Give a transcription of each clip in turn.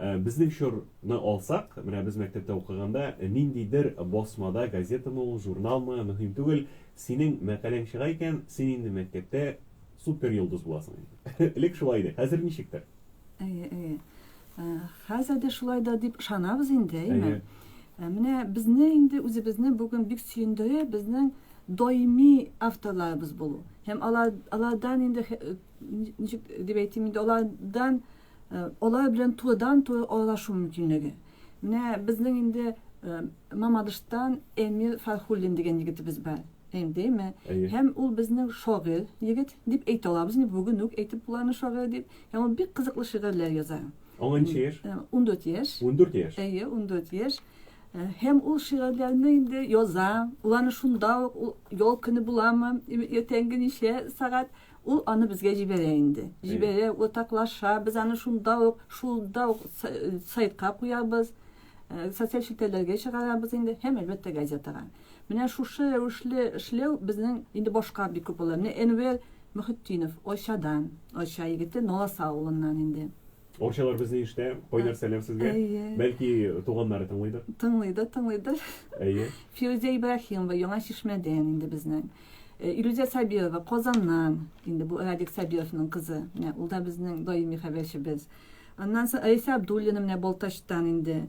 Безнең чорны алсак, менә без мәктәптә укыганда, ниндидер басмада, газетамы ул, журналмы, мөһим түгел, синең мәкаләң чыга икән, син инде мәктәптә супер йолдыз буласың инде. Элек шулай иде, хәзер ничектер? Әйе, әйе. Ә, Хәзер дә шулай да дип ышанабыз инде, әйеме? Әйе. Ә, Менә безне инде үзебезне бүген бик сөендерә безнең даими авторларыбыз булу. Һәм алар, алардан инде хе- э, ничек дип әйтим инде, алардан Алар белән турыдан-туры аралашу мөмкинлеге. Менә безнең инде Мамадыштан Эмир Фархуллин дигән егетебез бар. Әйдеме? Һәм ул безнең шагыйрь егет дип әйтә алабыз. Инде бүген үк әйтеп була аны шагыйрь дип. Һәм ул бик кызыклы шигырьләр яза. Аңа ничә яшь? 14 яшь. 14 яшь. Әйе, 14 яшь. Һәм ул шигырьләрне инде яза. Уланы шунда ук ял көне буламы, иртәнге ничә сагат, Ул аны безгә җибәрә инде. Җибәрә, уртаклаша, без аны шунда ук, шулда ук сайтка куябыз, э, социаль челтәрләргә чыгарабыз инде һәм әлбәттә газетага. Менә шушы рәвешле эшләү безнең инде башка бик күп була. Менә Энвер Мөхетдинов Очадан, Оча егете Наласа авылыннан инде. Очалар безне иштә, кайнар сәлам сезгә. Бәлки туганнары тыңлыйдыр. Тыңлыйдыр, тыңлыйдыр. Әйе. Фирүзә Ибраһимова Яңа Чишмәдән инде безнең. Э, Илүзә Сабирова Казаннан, инде бу Радик Сабировның кызы. Менә ул да безнең даими хәбәрчебез. Аннан соң Рәйсә Абдуллина менә Балтачтан инде.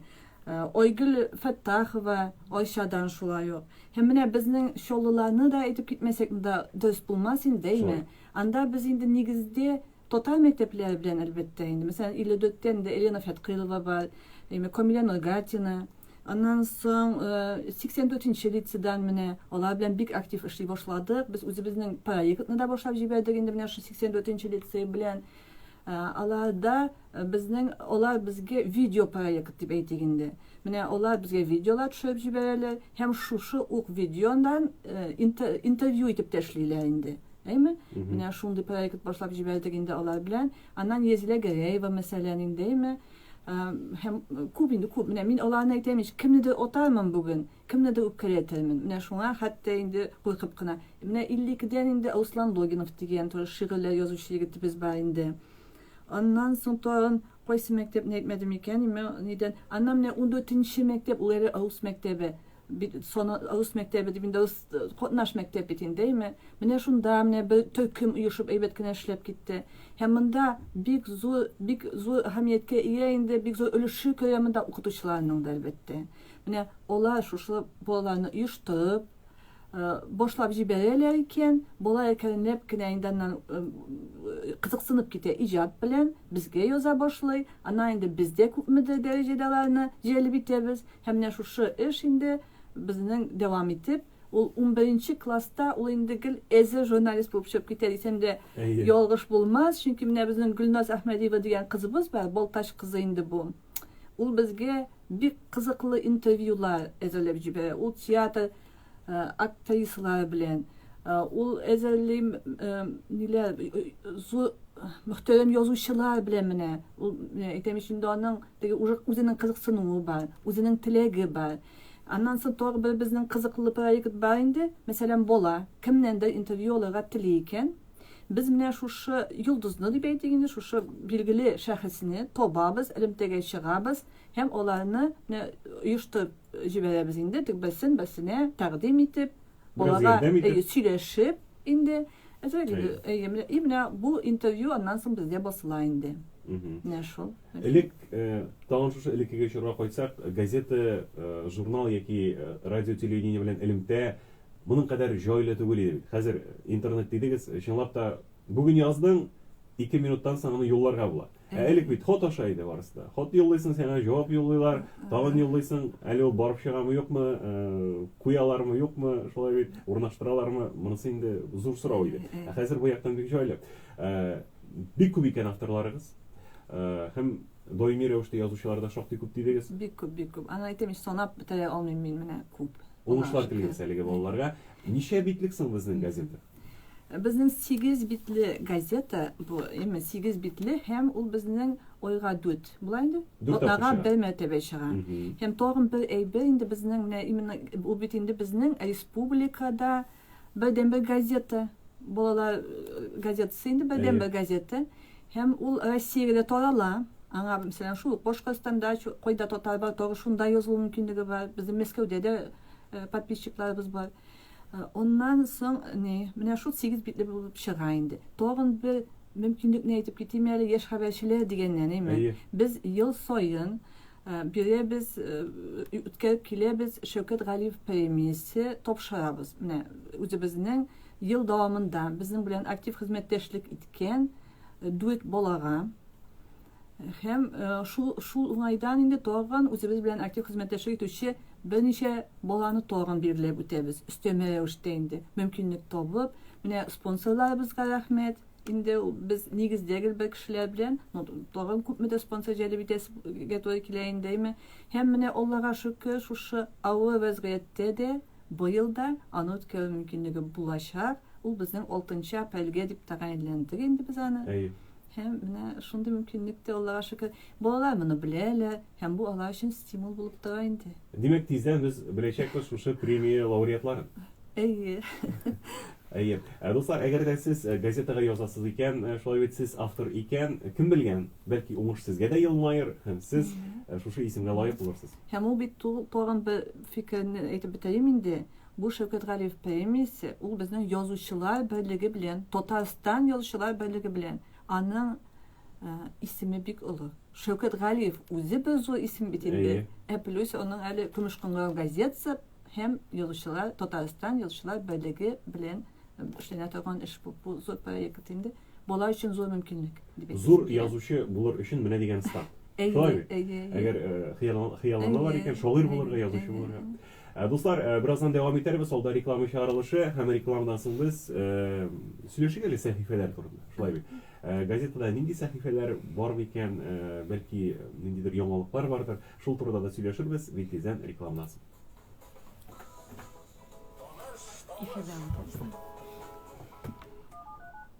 Э, Айгөл Фәттахова Айшадан шулай ук. Һәм менә безнең Чоллыларны да әйтеп китмәсәк, монда дөрес булмас инде, әйме? Анда без инде нигездә Татар мәктәпләре белән, әлбәттә, инде. Мәсәлән, Иледөттән дә Елена Фәткыйлова бар, әйме, Камилә Нургатина. Аннан соң 84-нче э, лицедан менә алар белән бик актив эшли башладык. Без үзебезнең проектны да башлап җибәрдек инде менә шул 84-нче лицей белән. Э, аларда э, безнең алар безгә видео проект дип әйтик инде. Менә алар безгә видеолар төшереп җибәрәләр һәм шушы ук видеодан интервью итеп тәшлиләр инде. Әйме? Менә шундый проект башлап җибәрдек инде алар белән. Аннан Езилә Гәрәева мәсәлән инде, әйме? Һәм күп инде күп. Менә мин аларны әйтәм, ич кемнедер отармын бүген, кемнедер үпкәләтермен. Менә шуңа хәтта инде куркып кына. Менә 52-дән инде Руслан Логинов дигән тоже шигырьләр язучы егетебез бар инде. Аннан соң тагын Кайсы мәктәпне әйтмәдем икән име, нидән? Аннан менә ундүртенче мәктәп, ул әле рус мәктәбе. Бит саны рус мәктәбе дип инде рус катнаш мәктәп бит инде, әйме? Менә шунда менә бер төркем оешып әйбәт кенә эшләп китте. Һәм монда бик зур, бик зур әһәмияткә ия инде, бик зур өлеше керә монда укытучыларның да, әлбәттә. Менә алар шушы балаларны оештырып, Э, башлап җибәрәләр икән, болар әкренләп кенә инде аннан э, кызыксынып китә иҗат белән, безгә яза башлый. Аннан инде без дә күпмедер дәрәҗәдә аларны җәлеп итәбез. Һәм менә шушы эш инде безнең дәвам итеп, ул 11 класста ул инде гел әзер журналист булып чыгып китә дисәм дә ялгыш булмас, чөнки менә безнең Гөлназ Әхмәдиева дигән кызыбыз бар, Балтач кызы инде бу. Ул безгә бик кызыклы интервьюлар әзерләп җибәрә. Ул театр актрисалары белән ул әзерли ниләр зур мөхтәрәм язучылар белән менә ул әйтәм өчен дә аның теге үзенең кызыксынуы бар, үзенең теләге бар. Аннан соң тагы бер безнең кызыклы проект бар инде. Мәсәлән, бала кемнәндер интервью алырга тели икән. Без менә шушы йолдызны дип әйтик инде, шушы билгеле шәхесне табабыз, элемтәгә чыгабыз һәм аларны менә оештырып җибәрәбез инде, тик берсен берсенә тәкъдим итеп, балага сөйләшеп инде. И менә бу интервью аннан соң бездә басыла инде. Менә шул. Элек тагын шушы элеккеге чорга кайтсак, газета, журнал яки радио-телевидение белән элемтә Моның кадәр җайлы түгел иде бит. Хәзер интернет дидегез, чынлап та, бүген яздың, ике минуттан соң аны юлларга була. Ә элек бит хат аша иде барысы да. Хат юллыйсың, сиңа җавап юллыйлар, тагын юллыйсың, әле ул барып чыгамы, юкмы, куялармы, юкмы, шулай бит, урнаштыралармы, монысы инде зур сорау иде. Ә хәзер бу яктан бик җайлы. Бик күп икән авторларыгыз. Һәм даими рәвештә язучылар да шактый күп дидегез. Бик күп, бик күп. Аны әйтәм, санап бетерә алмыйм мин, менә күп. Уңышлар телибез әлеге балаларга. Ничә битлек соң безнең газета? Безнең сигез битле газета бу, яме сигез битле һәм ул безнең ойга дүт. Була инде? Атнага бер мәртәбә чыга. Һәм тагын бер әйбер инде безнең менә именно ул бит инде безнең республикада Бердәнбер газета, балалар э, газетасы инде бердәнбер Әйе. газета. Һәм ул Россиягә дә тарала. Аңа, мәсәлән, шул Башкортстанда, чу- кайда татар бар, тагы шунда язылу мөмкинлеге бар. Безнең Мәскәүдә дә э, подписчикларыбыз бар. Э, Аннан соң, не, менә шул сигез битле булып чыга инде. Тагын бер мөмкинлекне әйтеп китим әле, яшь хәбәрчеләр дигәннән, әйме? Әйе. Без ел саен Э, бирәбез, э, үткәреп киләбез Шәүкәт Галиев премиясе тапшырабыз. Менә үзебезнең ел дәвамында безнең белән актив хезмәттәшлек иткән э, дүрт балага һәм шул шул уңайдан инде тагын үзебез белән актив хезмәттәшлек итүче берничә баланы тагын билгеләп үтәбез. Өстәмә рәвештә инде мөмкинлек табып, менә спонсорларыбызга рәхмәт. Инде ул без нигездә гел бер кешеләр белән, ну, тагын күпме дә спонсор җәлеп итәсегә туры килә инде, әйме. Һәм менә Аллага шөкер, шушы авыр вәзгыятьтә дә быел да аны үткәрү мөмкинлеге булачак. Ул безнең 6 нчы апрельгә дип тәгаенләндек инде без аны. Әйе. Һәм менә шундый мөмкинлек тә, Аллага шөкер. Балалар моны беләләр, Һәм бу алар өчен стимул булып тора инде. Димәк, тиздән без беләчәкбез шушы премия лауреатларын. Әйе. Әйе. Ә, дуслар, әгәр дә сез э, газетага язасыз икән, э, шулай бит сез автор икән, кем белгән, бәлки уңыш сезгә дә елмаер һәм сез э, шушы исемгә лаек булырсыз. Һәм ул бит тагын бер фикерне әйтеп бетерим инде. Бу Шәүкәт Галиев премиясе, ул безнең язучылар берлеге белән, Татарстан язучылар берлеге белән, аның исеме бик олы. Шәүкәт Галиев үзе бер зур исем бит инде. Ә плюс аның әле Көмеш кыңгырау газетасы һәм язучылар Татарстан язучылар берлеге белән эшләнә торган эш бу. Бу зур проект инде. Бала өчен зур мөмкинлек. Зур язучы булыр өчен менә дигән старт. Әйе, әйе. Әгәр хыяллана бар икән, шагыйрь булырга, язучы булырга. Дуслар, бераздан дәвам итәрбез, алда реклама чыгарылышы һәм рекламадан соң без сөйләшик әле сәхифәләр турында. Шулай бит. Газетада нинди сәхифәләр бар микән, бәлки ниндидер яңалыклар бардыр, шул турыда да сөйләшербез, бик тиздән рекламадан соң. Эфирдә ул.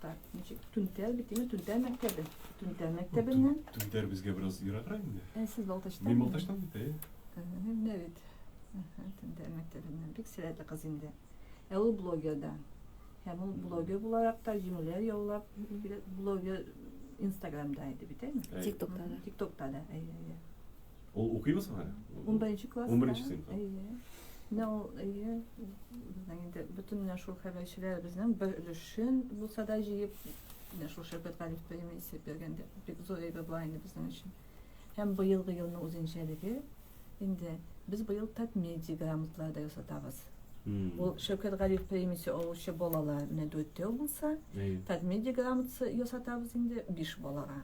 Так, значит, Түнтәр бит, димме? Түнтәр мәктәбе. Түнтәр мәктәбеннән. Түнтәр безгә бераз ераграк инде. Ә сез Балтачтан? Мин Балтачтан бит, әйе. Менә бит. Түнтәр мәктәбеннән. Бик сәләтле кыз инде. Ә ул блогер да. Һәм ул блогер буларак та җиңүләр яулап, блогер Инстаграмда иде бит, әйеме? Тиктокта да. Тиктокта да, әйе, әйе. Ул укыйбыз соң әле? Унберенче класс. Унберенче сыйныф. Әйе. Менә ул әйе безнең инде бөтен менә шул хәбәрчеләребезнең бер өлешен булса да җыеп менә шул Шәүкәт Галиев премия исәп биргәндә бик зур әйбер була инде безнең өчен. Һәм быелгы елның үзенчәлеге инде без быел татмедиа грамоталары да ясатабыз. Ул Шәүкәт Галиев премиясе алучы балалар менә дүртәү булса, татмедиа грамотасы ясатабыз инде биш балага.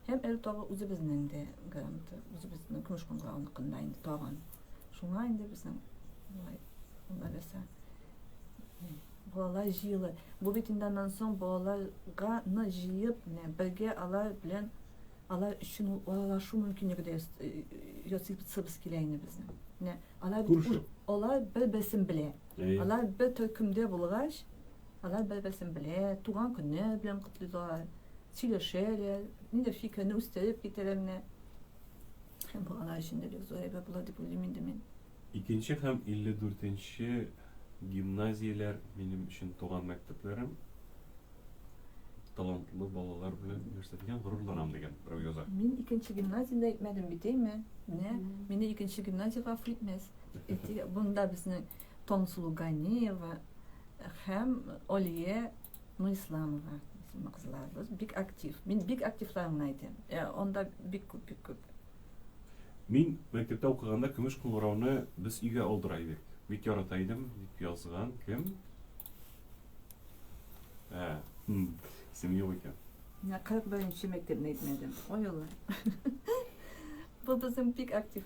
Һәм әле тагы үзебезнең дә гаранты, үзебезнең көмеш кыңгыравыныкында инде тагын. Шуңа инде безнең болай уналәсә. Балалар җыелы. Бу бит инде аннан соң балаларга ны җыеп, менә бергә алар белән алар өчен ул аралашу мөмкинлеге дә ясыйсыбыз килә инде безнең. Менә алар бит алар бер-берсен белә. Алар бер төркемдә булгач, Алар бер-берсен белә, туган көннәр белән котлыйлар, сөйләшәләр, нидер фикерне үстереп китәләр менә. Һәм бу алар өчен дә бик зур әйбер була дип уйлыйм инде мин. Икенче һәм 54 нче гимназияләр минем өчен туган мәктәпләрем. Талантлы балалар белән нәрсә дигән, горурланам дигән берәү яза. Мин икенче гимназияне әйтмәдем бит, әйме? Менә мине икенче гимназиягә гафу итмәс. Әйтик, монда безнең Тонсулу Ганиева һәм Олия Нуисламова исемле кызларыбыз бик актив. Мин бик активларын гына әйтәм. Э, Анда бик күп, бик күп. Мин мәктәптә укыганда көмеш кыңгырауны без өйгә алдыра идек. Бик ярата идем, дип язган кем? Ә, хм, исем юк икән. Менә 41 нче мәктәпне әйтмәдем. Ой, Аллам. Бу безнең бик актив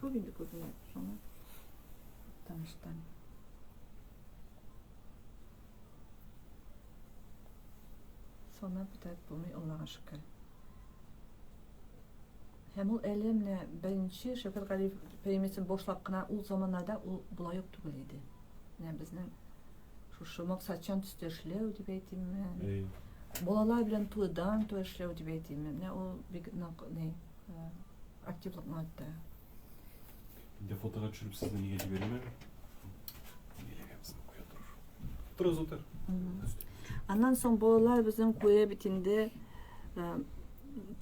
Күп инде күп инде шуны. Таныштан. Сана битәр булмый Аллага шөкер. Һәм ул әле менә беренче Шәфәр Галиев премиясен башлап кына ул заманнарда ул болай ук түгел иде. Менә безнең шушы максатчан төстә эшләү дип әйтимме? Балалар белән туйдан туй эшләү дип әйтимме? Менә ул бик нык ни Активлык матта. Инде фотога төшереп сезне нигә җибәрәләр? Торыз утыр. Аннан соң балалар безнең куя бит инде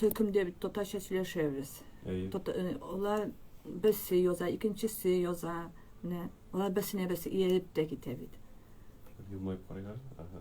төркемдә бит татарча сөйләшәбез. Алар берсе яза, икенчесе яза. Менә алар берсенә берсе ияреп тә китә бит. Елмаеп карыйлар. Ага.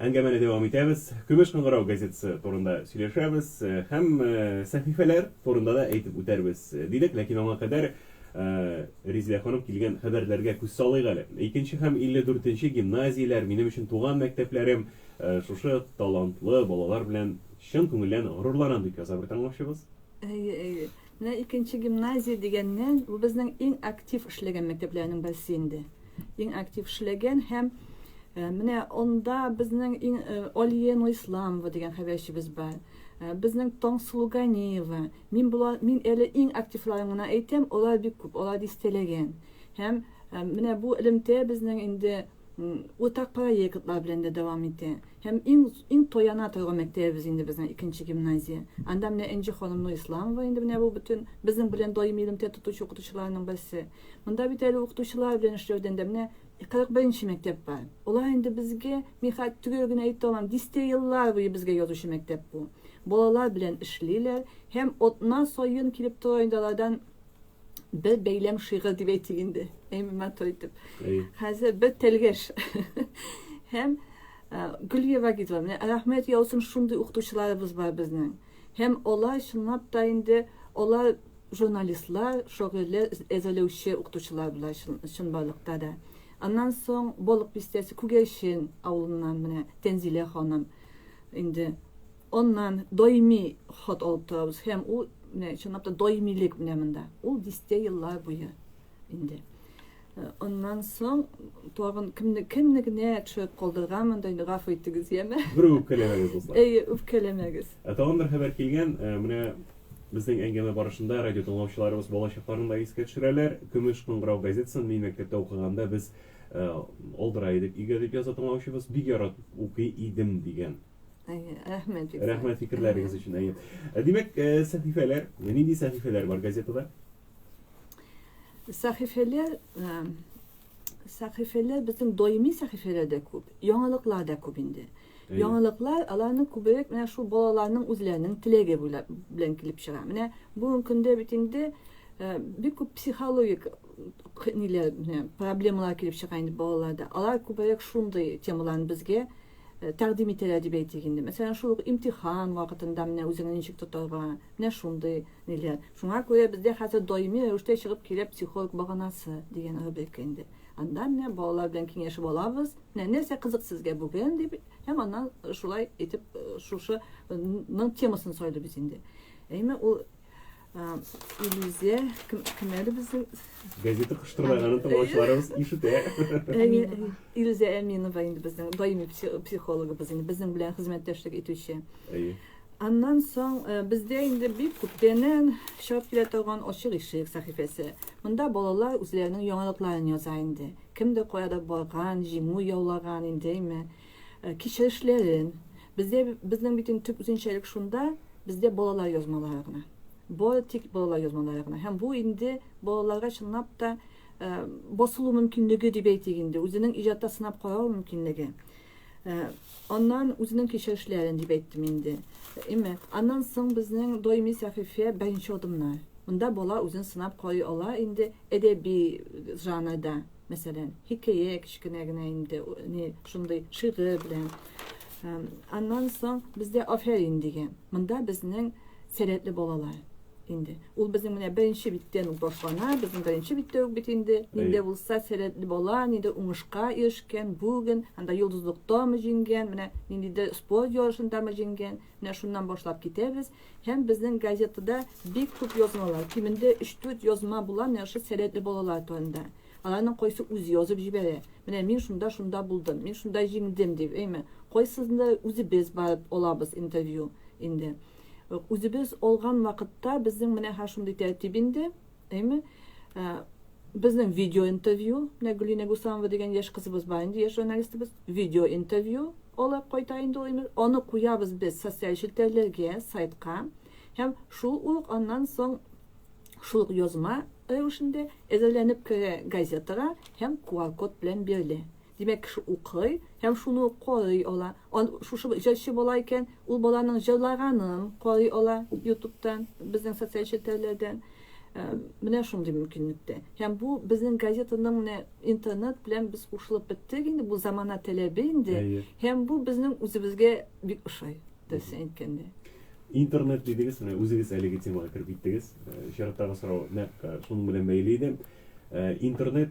Әңгәмәне дәвам итәбез. Көмеш кыңгырау газетасы турында сөйләшәбез һәм сәхифәләр турында да әйтеп үтәрбез дидек, ләкин аңа кадәр Ризилә ханым килгән хәбәрләргә күз салыйк әле. Икенче һәм 54 нче гимназияләр, минем өчен туган мәктәпләрем, шушы талантлы балалар белән чын күңелдән горурланам, дип яза бер тыңлаучыбыз. Әйе, әйе. Менә икенче гимназия дигәннән, бу безнең иң актив эшләгән мәктәпләрнең берсе инде. Иң актив эшләгән һәм э, менә онда безнең иң э, Олия Нуисламова дигән хәбәрчебез бар. Э, безнең Таңсылу Ганиева. Мин була, мин әле иң активларын гына әйтәм, алар бик күп, алар дистәләгән. Һәм менә бу элемтә безнең инде уртак проектлар белән дә дәвам итә. Һәм иң иң тояна торган мәктәбебез инде безнең икенче гимназия. Анда менә Энҗе ханым Нурисламова инде менә бу бөтен безнең белән даими элемтә тотучы укытучыларның берсе. Монда бит әле укытучылар белән эшләүдән дә менә 41 нче мәктәп бар. Алар инде безгә, мин хәтта төгәл генә әйтә алмам, дистә еллар буе безгә язучы мәктәп бу. Балалар белән эшлиләр һәм атна саен килеп тора инде алардан бер бәйләм шигырь дип әйтик инде әйме матур итеп хәзер бер тәлгәш һәм гөлия вагидовна рәхмәт яусын шундый укытучыларыбыз бар безнең һәм алар чынлап та инде алар журналистлар шөгыльле әзерләүче укытучылар була чынбарлыкта да аннан соң балык бистәсе күгәрчен авылыннан менә тәнзилә ханым инде Аннан даими хат алып торабыз һәм ул менә чынлап та даимилек менә монда. Ул дистә еллар буе инде. Э, аннан соң тагын кемне кемне генә төшереп калдырганмын да инде гафу итегез, яме. Бер үпкәләмәгез дуслар. Әйе, үпкәләмәгез. Ә тагын бер хәбәр килгән, э, менә безнең әңгәмә барышында радио тыңлаучыларыбыз балачакларын да искә төшерәләр. Көмеш кыңгырау газетасын мин мәктәптә укыганда без э, алдыра идек өйгә дип яза тыңлаучыбыз. Бик яратып укый идем дигән. Рәхмәт фикерләр. Рәхмәт фикерләрегез өчен. Әйе. Э, димәк, э, сәхифәләр, нинди сәхифәләр бар газетада? Сәхифәләр э, сәхифәләр безнең даими сәхифәләр дә күп, яңалыклар да күп инде. Яңалыклар аларны күбрәк менә шул балаларның үзләренең теләге белән килеп чыга. Менә бүгенге көндә бит инде бик күп психологик ниләр проблемалар килеп чыга инде балаларда. Алар күбрәк шундый темаларны безгә тәкъдим ителә дип әйтик инде. Мәсәлән, шул ук имтихан вакытында менә үзеңне ничек тотарга, менә шундый ниләр. Шуңа күрә бездә хәзер даими рәвештә чыгып килә психолог баганасы дигән рубрика инде. Анда менә балалар белән киңәшеп алабыз. Менә нәрсә кызык сезгә бүген дип, һәм аннан шулай итеп шушының темасын сайлыйбыз инде. Әйме ул иллюзия кем, кем әле безнең газета кыштырлаганын тыңлаучыларыбыз ишетә иллюзия әминова инде безнең даими психологыбыз инде безнең белән хезмәттәшлек итүче аннан соң э, бездә инде бик күптәннән чыгып килә торган ачык ишек сәхифәсе монда балалар үзләренең яңалыкларын яза инде кемдер каяда барган җиңү яулаган индеме Кичерешләрен. Бездә, безнең бит инде төп үзенчәлек шунда, бездә балалар язмалары гына. Бары тик балалар язмалары гына. Һәм бу инде балаларга чынлап та э, басылу мөмкинлеге дип әйтик инде, үзенең иҗатта сынап карау мөмкинлеге. Э, аннан үзенең кичерешләрен дип әйттем инде. Әмма аннан соң безнең даими сәхифә беренче адымнар. Монда бала үзен сынап карый ала инде әдәби жанрда. Мәсәлән, хикәя кечкенә генә инде, не шундый шигырь белән. Аннан соң бездә афәрин дигән. Монда безнең сәләтле балалар инде. Ул безнең менә беренче биттән үк башлана, безнең беренче биттә үк бит инде. Нинди булса сәләтле бала, нинди уңышка ирешкән, бүген анда йолдызлыктамы җиңгән, менә ниндидер спорт ярышындамы җиңгән. Менә шуннан башлап китәбез. Һәм безнең газетада бик күп язмалар, кимендә өч-дүрт язма була Нәшид сәләтле балалар турында. Аларның кайсы үзе язып җибәрә, менә мин шунда, шунда булдым, мин шунда җиңдем дип, әйме. Кайсысында үзебез барып алабыз интервью инде. Үзебез алган вакытта безнең менә һәр шундый тәртип инде. Әйме, безнең видео интервью, менә Гөлинә Гусамова дигән яшь кызыбыз бар инде, яшь журналистыбыз, видео интервью алып кайта инде ул имеш. Аны куябыз без социаль челтәрләргә, сайтка. Һәм шул ук аннан соң шул ук язма рәвешендә әзерләнеп керә газетага һәм QR-код белән бирелә. Димәк, кеше укый һәм шуны ук карый ала. Ан, шушы җырчы бала икән, ул баланың җырлаганын карый ала Ютубтан, безнең социаль челтәрләрдән. Менә шундый мөмкинлек тә. Һәм бу безнең газетаның менә интернет белән без кушылып беттек инде, бу замана таләбе инде. Әйе. Һәм бу безнең үзебезгә бик ошый, дөресен әйткәндә. Интернет дидегез, менә үзегез әлеге темага кереп киттегез. Чираттагы сорау нәкъ шуның белән бәйле иде. Интернет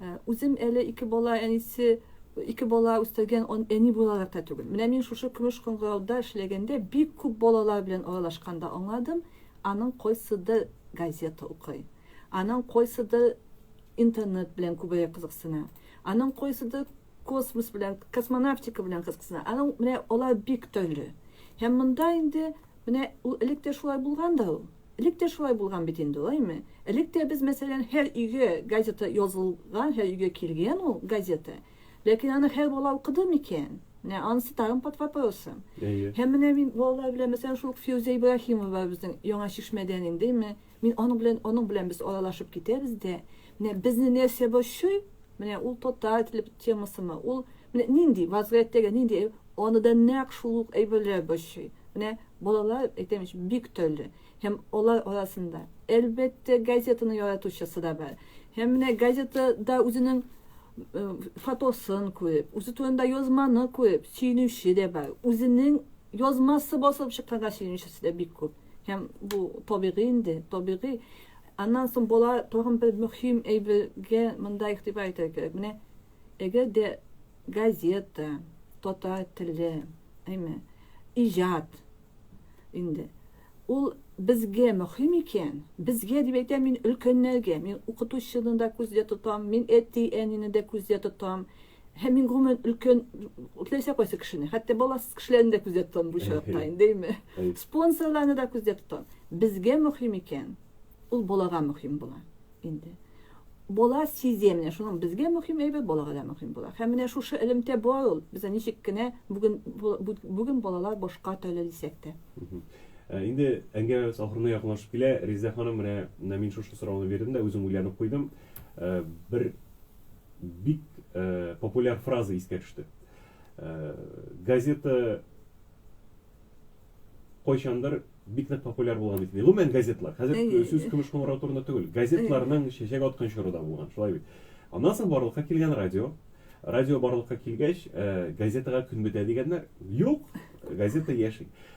Э, үзем әле ике бала әнисе ике бала үстергән әни буларак та түгел менә мин шушы көмеш кыңгырауда эшләгәндә бик күп балалар белән аралашканда аңладым аның кайсыдыр газета укый аның кайсыдыр интернет белән күбрәк кызыксына аның кайсыдыр космос белән космонавтика белән кызыксына аның менә алар бик төрле һәм монда инде менә ул элек тә шулай булган да ул Элек тә шулай булган бит инде, алаймы? Элек тә без, мәсәлән, һәр өйгә газета язылган, һәр өйгә килгән ул газета. Ләкин аны һәр бала укыды микән? Менә анысы тагын под вопросом. Әйе. Һәм менә мин балалар белән, мәсәлән, шул ук Фирүзә Ибраһимова безнең Яңа Чишмәдән инде, мин аның белән, аның белән без аралашып китәбез дә, Менә безне нәрсә борчый? Менә ул татар теле темасымы? Ул менә нинди вазгыятьтәге нинди аны да нәкъ шул ук әйберләр борчый. Менә балалар әйтәм ич бик төрле. Һәм алар арасында әлбәттә газетаны яратучысы да бар. Һәм менә газетада үзенең фотосын күреп, үзе турында язманы күреп сөенүче дә бар. Үзенең язмасы басылып чыкканга сөенүчесе дә бик күп. Һәм бу табигый инде, табигый. Аннан соң бала тагын бер мөһим әйбергә монда игътибар итәргә кирәк. Менә әгәр дә газета, татар теле, әйме, иҗат инде. Ул безгә мөһим икән, безгә дип әйтәм мин өлкәннәргә, мин укытучыны да күздә тотам, мин әти-әнине дә күздә тотам. Һәм мин гомумән өлкән теләсә кайсы кешене, хәтта баласыз кешеләрне дә күздә тотам бу очракта инде, дәйме? Спонсорларны да күздә тотам. Безгә мөһим икән, ул балага мөһим була инде. Бала сизә менә шуның безгә мөһим әйбәт, балага да мөһим була. Һәм менә шушы элемтә бар ул. Без ничек кенә бүген бүген балалар башка төрле дисәк тә. Ә, инде әңгәмәбез ахырына якынлашып килә. Резидә ханым, менә мин шушы сорауны бирдем дә үзем уйланып куйдым. Ә, бер бик ә, популяр фраза искә төште. Ә, газета кайчандыр бик нык популяр булган бит. Гомумән газетлар. Хәзер сүз көмеш кыңгырау турында түгел. Газетларның чәчәк аткан чоры да булган. Шулай бит. Аннан соң барлыкка килгән радио. Радио барлыкка килгәч, ә, газетага көн бетә дигәннәр. Юк, газета яши.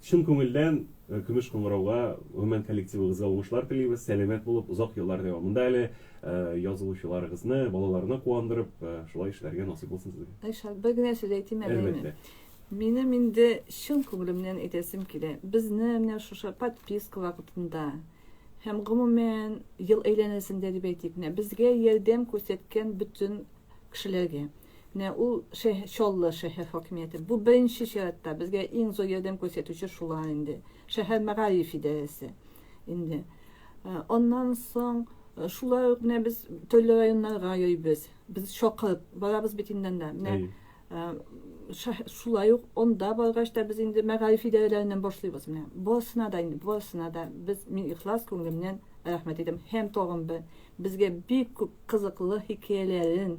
Чын күңелдән Көмеш кыңгырауга, гомумән коллективыгызга уңышлар телибез, сәламәт булып, озак еллар дәвамында әле язылучыларыгызны, балаларны куандырып, шулай эшләргә насыйп булсын сезгә. Айшат, бер генә сүз әйтим әле. Әлбәттә. Минем инде чын күңелемнән әйтәсем килә. Безне менә шушы подписка вакытында һәм гомумән ел әйләнәсендә дип әйтик, менә безгә ярдәм күрсәткән бөтен кешеләргә, Менә ул шәһ, Чаллы шәһәр хакимияте. Бу беренче чиратта безгә иң зур ярдәм күрсәтүче шулар инде. Шәһәр мәгариф идарәсе инде. Аннан соң шулай ук менә без төрле районнарга йөрибез. Без чакырып барабыз бит инде анда. Менә Әйе. э, шәһ- шулай ук анда баргач та без инде мәгариф идарәләреннән башлыйбыз менә. Барысына да инде, барысына да без мин ихлас күңелемнән рәхмәт әйтәм. Һәм тагын бер безгә бик күп кызыклы хикәяләрен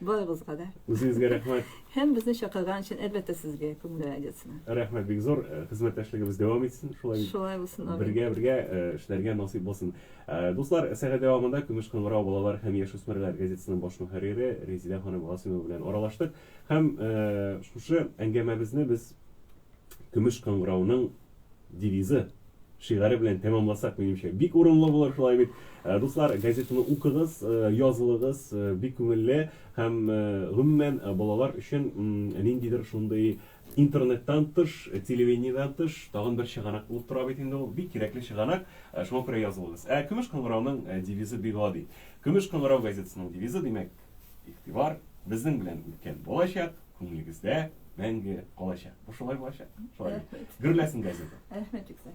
Барыбызга да. Үзегезгә рәхмәт. Һәм безне чакырган өчен әлбәттә сезгә Күңел радиосына. Рәхмәт бик зур. Э, хезмәттәшлегебез дәвам итсен. Шулай Шулай булсын. Амин. Бергә бергә э, эшләргә насыйп булсын. Э, дуслар, сәгать дәвамында Көмеш кыңгырау балалар һәм яшүсмерләр газетасының баш мөхәррире Резидә ханым Гасыймова белән аралаштык. Һәм шушы әңгәмәбезне без Көмеш кыңгырауның Девизы, шигаре белән тәмамласак, минемчә, бик урынлы булыр, шулай бит. Э, дуслар, газетаны укыгыз, э, язылыгыз, э, бик күңелле һәм гомумән балалар өчен ниндидер шундый интернеттан тыш, телевидениедән тыш тагын бер чыганак булып тора бит инде ул. Бик кирәкле чыганак, шуңа күрә язылыгыз. Ә Көмеш кыңгырауның девизы бик гади. Көмеш кыңгырау газетасының девизы, димәк, игътибар безнең белән үткән булачак, күңелегездә мәңге калачак. Бу шулай булачак. Шулай. Гөрләсен газета. Рәхмәт, Юксә.